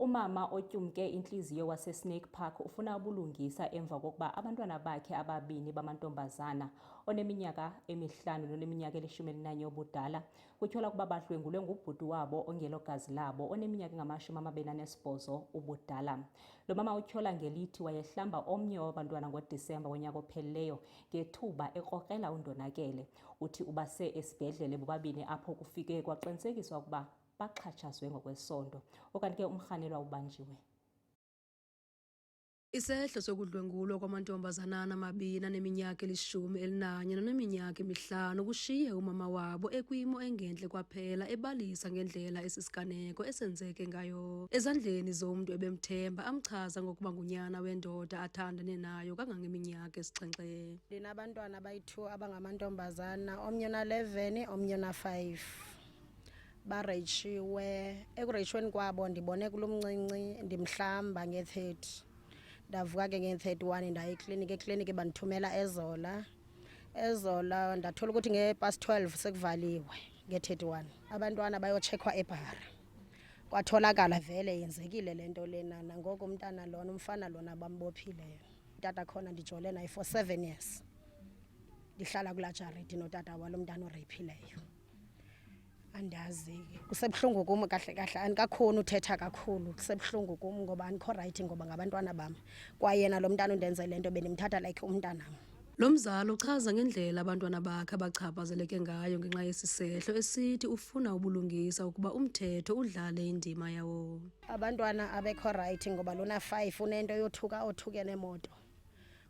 Umama otyumke intliziyo waseSnake Park ufuna ubulungisa emva kokuba abantwana bakhe ababini bamantombazana oneminyaka emihlanu noneminyaka elishumi elinanye obudala kutyhola ukuba badlwengulwe ngubhuti wabo ongelogazi labo oneminyaka engamashumi amabini anesibhozo ubudala. Lo mama utyhola ngelithi wayehlamba omnye wabantwana ngoDisemba wonyaka ophelileyo ngethuba ekrokrela undonakele. Uthi ubase esibhedlele bobabini apho kufike kwaqinisekiswa ukuba baxhatshazwe ngokwesondo okanti ke umrhanelwa ubanjiwe Isehlo sokudlwengulwa kwamantombazana amabini aneminyaka elishumi elinanye naneminyaka emihlanu kushiye umama wabo ekwimo engentle kwaphela ebalisa ngendlela esisiganeko esenzeke ngayo ezandleni zomntu ebemthemba amchaza ngokuba ngunyana wendoda athandane nayo kangangeminyaka esixhenxe ndinabantwana abayi-two abangamantombazana omnye ona-eleven omnye ona-five bareyishiwe ekureyishweni kwabo ndibone kulo mncinci ndimhlamba nge-thirty ndavuka ke nge-thirty one ndaye ekliniki ekliniki bandithumela ezola ezola ndathola ukuthi nge-past twelve sekuvaliwe nge-thirty one abantwana bayotshekwa ebhara kwatholakala vele yenzekile le nto lena nangoku umntana lona umfana lona bambophileyo utata khona ndijole naye for seven years ndihlala kulaa jaridi notata walo mntana oreyiphileyo andazi kusebuhlungu kum kahle kahle andikakhoni uthetha kakhulu kusebuhlungu kum ngoba andikho rayithi ngoba ngabantwana bam kwayena lo mntana undenze le nto bendimthatha like umntanam Lo mzali uchaza ngendlela abantwana bakhe abachaphazeleke ngayo ngenxa yesi sehlo esithi ufuna ubulungisa ukuba umthetho udlale indima yawo. Abantwana abekho rayithi ngoba lona five unento yothuka othuke nemoto.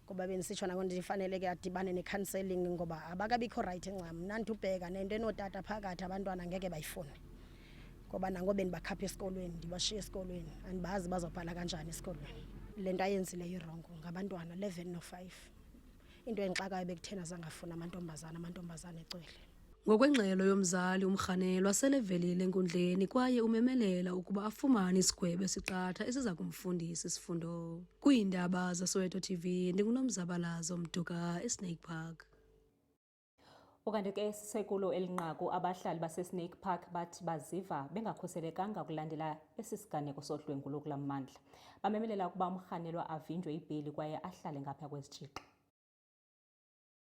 ngoba bendisitsho nako ndifaneleke adibane ne-counselling ngoba abakabikho rayithi ncam mna ndibheka nento enootata phakathi abantwana ngeke bayifune ngoba nango bendibakhapha esikolweni ndibashiye esikolweni andibazi bazobhala kanjani esikolweni le nto ayenzileyo irongo ngabantwana eleven no-five into endixakayo bekuthena zangafuni amantombazana amantombazana ecwele Ngokwengxelo yomzali umrhanelwa selevelile enkundleni kwaye umemelela ukuba afumane isigwebo esiqatha esiza kumfundisa isifundo. Kwiindaba zaSoweto TV ndinguNomzabalazo Mduka eSnake Park. Ukanti ke sisekulo elinqaku abahlali baseSnake Park bathi baziva bengakhuselekanga ukulandela esi siganeko sodlwengulo kula mmandla. Bamemelela ukuba umrhanelwa avinjwe ibheli kwaye ahlale ngapha kwezitshixo.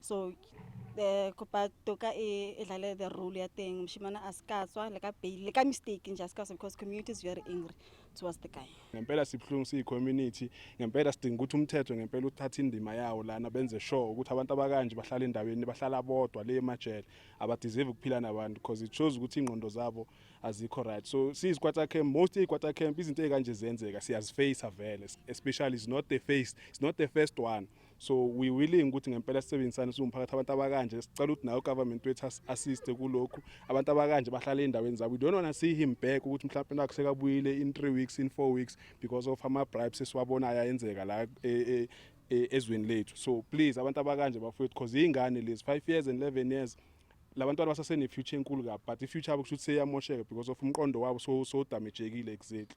so the kopa toka e e dlale the role ya teng moshimane a se ka tswa le ka bail le ka mistake nje a se ka tswa because community is very angry towards the guy ngempela sibuhlungu siyi-community ngempela sidinga ukuthi umthetho ngempela uthathe indima yawo lana benze sure ukuthi abantu abakanje bahlala endaweni bahlala bodwa le emajele abadizive ukuphila nabantu because it shows ukuthi iy'ngqondo zabo azikho right so siyizikwata camp most iyikwata camp izinto ey'kanje ziyenzeka siyazifeyisa vele especially is not the face is not the first one so we willing ukuthi ngempela sisebenzisane siwumphakathi abantu abakanje sicela ukuthi nayo government wethu assiste kulokhu abantu abakanje bahlale endaweni zabo we don't want to see him back ukuthi mhlawumbe nakho sekabuyile in 3 weeks in 4 weeks because of ama bribes esiwabonayo ayenzeka la eh, eh, eh, ezweni lethu so please abantu abakanje bafowethu because ingane lezi 5 years and 11 years labantwana basasene future enkulu kabi but i future yabo kusho ukuthi seyamosheka because of umqondo wabo so so damagekile exactly